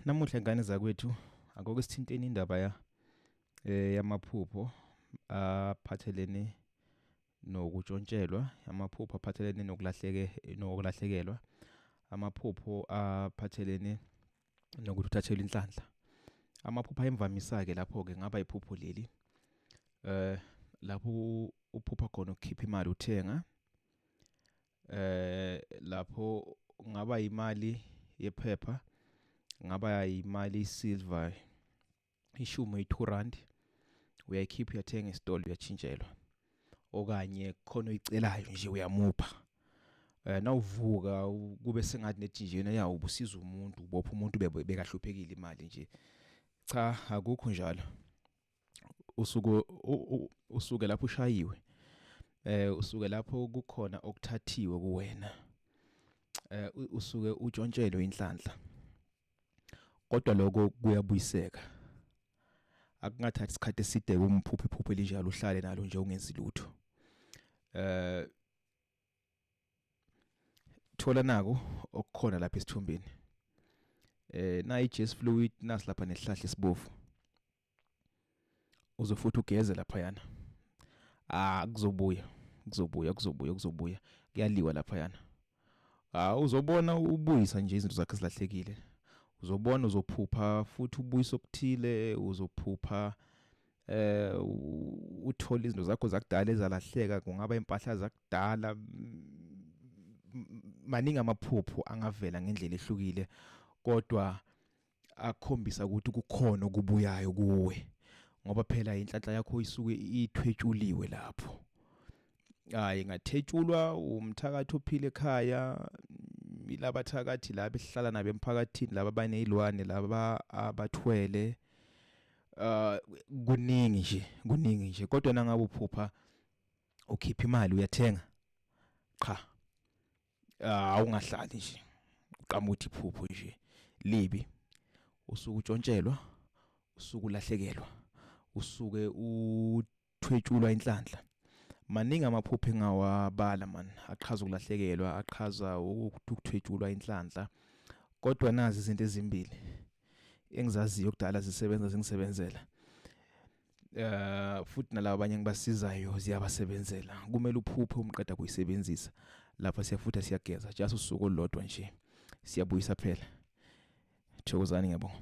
Namuhla ingane zakwethu akukho sithinteni indaba ya eh yamaphupho aphathelene nokutshontshelwa amaphupho aphathelene nokulahleke nokulahlekelwa amaphupho aphathelene nokuthi uthathelwe inhlanhla amaphupho ayimvamisa ke lapho ke ngaba iphupho leli eh lapho uphupha khona ukukhipha imali uthenga eh lapho ngaba imali yephepha ngaba imali isilver ishumi i2 rand uyayikhipha uyathenga esitolo uyatshintshelwa okanye khona uyicelayo nje uyamupha eh nawuvuka kube sengathi nethinjena ya ubusiza umuntu ubopha umuntu bekahlupekile imali nje cha akukho njalo usuke usuke lapho ushayiwe eh usuke lapho kukhona okuthathiwe kuwena eh usuke utshontshelwe inhlanhla kodwa lokho kuyabuyiseka akungathathi isikhathi eside kumphuphe iphuphe elinjalo uhlale nalo nje ungenzi lutho eh thola nako okukhona lapha esithombeni eh nayi Jess fluid nasilapha nesihlahla esibovu uze futhi ugeze laphayana ah kuzobuya kuzobuya kuzobuya kuzobuya kuyaliwa laphayana ah uzobona ubuyisa nje izinto zakhe zilahlekile uzobona uzophupha futhi ubuyisa okuthile uzophupha eh uthola izinto zakho zakudala ezalahleka kungaba impahla zakudala maningi amaphupho angavela ngendlela ehlukile kodwa akhombisa ukuthi kukhona okubuyayo kuwe ngoba phela inhlanhla yakho isuke ithwetshuliwe lapho hayi ngathetshulwa umthakathi ophile ekhaya ilaba thakathi laba esihlala nabo emphakathini laba banezilwane laba abathwele uh kuningi nje kuningi nje kodwa nangabe uphupha ukhipha imali uyathenga qha ah, awungahlali nje uqama ukuthi iphupho nje libi usuku utshontshelwa usuku ulahlekelwa usuke uthwetshulwa inhlanhla maningi amaphupho engawabala man aqhaza ukulahlekelwa aqhaza ukuthwetshulwa inhlanhla kodwa nazi izinto ezimbili engizaziyo kudala zisebenza zingisebenzela eh futhi nalabo abanye ngibasizayo ziyabasebenzela kumele uphuphe umqeda kuyisebenzisa lapha siyafutha siyageza just usuku olodwa nje siyabuyisa phela thokozani ngiyabonga